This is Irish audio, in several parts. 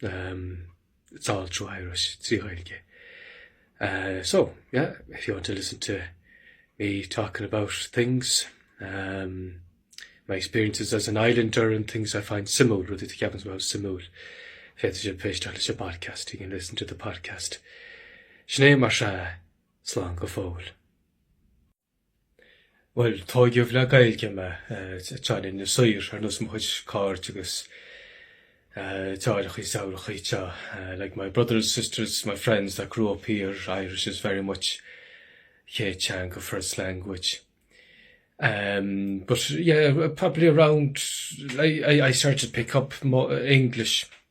It's all through Irish, trí Ghaeilge. So, yeah, if you want to listen to me talking about things, my experiences as an islander and things I find suimiúil, rudaí a cheapaimse go bhfuil suimiúil, féadfaidh sibh éisteacht leis an bpodcast, you can listen to the podcast. Sin é mar sea, slán go fóill. Bhuel, tóigeadh le Gaeilge mé, anseo in Inis Oírr, ar nós mo chuid cairde agus deartháireachaí is deirfiúrachaí. Like my brothers, sisters, my friends that grew up here, Irish is very much chéad teanga, first language. Em, but yeah, probably around, I, I, I started to pick up more English.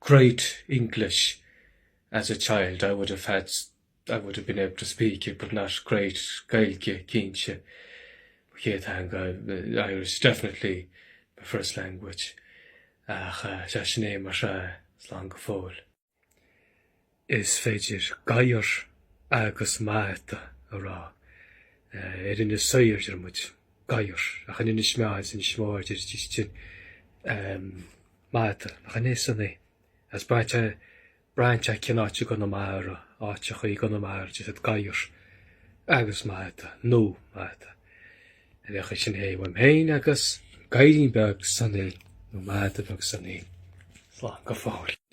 great English as a child, I would have had, I would have been able to speak it but not great Gaeilge cinnte mo chéad theanga, Irish definitely my first language ach sea sin é mar sea, slán go fóill. Is féidir gadhar agus mada a rá. In Inis Oírr a deir muid gadhar, ach in Inis Meáin is Inis Mór a deir siad mada. Nach in é, Sonny? Agus braitheann sé cén áit i gConamara, áiteachaí i gConamara a deir siad gadhar agus mada, nó mada. Ar aon chaoi sin é uaim féin agus gadhairín beag Sonny, nó mada beag Sonny. Slán go fóill.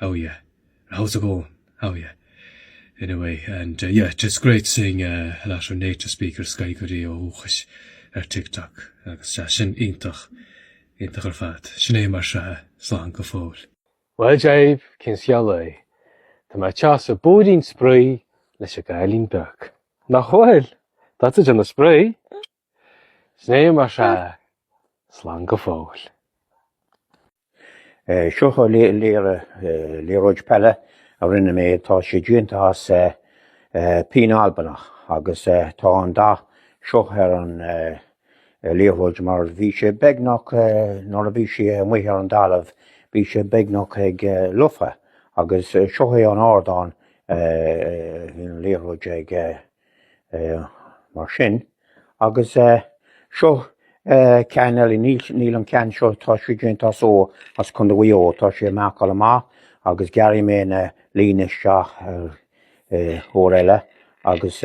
Howya. How's it going? Howya. Anyway, and uh yeah, just great seeing a lot of native speakers Gaeilgeoirí ó dhúchas ar TikTok agus sea, sin iontach, iontach ar fad. Sin é mar seo, slán go fóill. Bhuel Dave, cén scéal é? Tá mé ag teacht ar bóithrín spraoi leis an gcailín beag. Nach bhfuil? Tá tú ag déanamh spraoi. Sin é mar seo, slán go fóill. Seo liathróid peile a rinne mé, tá sé déanta as pín Albanach agus tá an dath seo ar an liathróid mar bhí sé beagnach, nuair a bhí sé amuigh ar an dtalamh, bhí sé beagnach ag lobhadh agus seo é an t-ardán a bhí an liathróid ag mar sin, agus seo ceann eile, níl an ceann seo, tá sé déanta as, ó, as Condae Mhuigh Eo, tá sé ag marcáil amach agus gearrfaidh mé na línte isteach air uair eile agus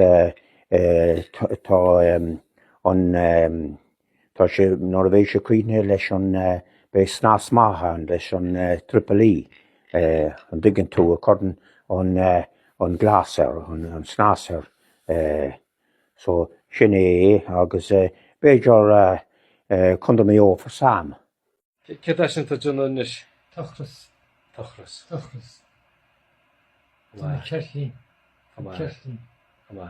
tá an. Tá sé, nuair a bheidh sé críochnaithe leis an, beidh snas maith ann leis an Triple E, an dtuigeann tú, a chuireann an, an gloss air, an snas air. So, sin é é agus b'fhéidir Condae Mhuigh Eo for Sam. Céard é sin atá tú ag déanamh anois? Tochras. Tochras. Tochras. Tá mé ceirtlín. Tá mé. Ceirtlín. Tá mé.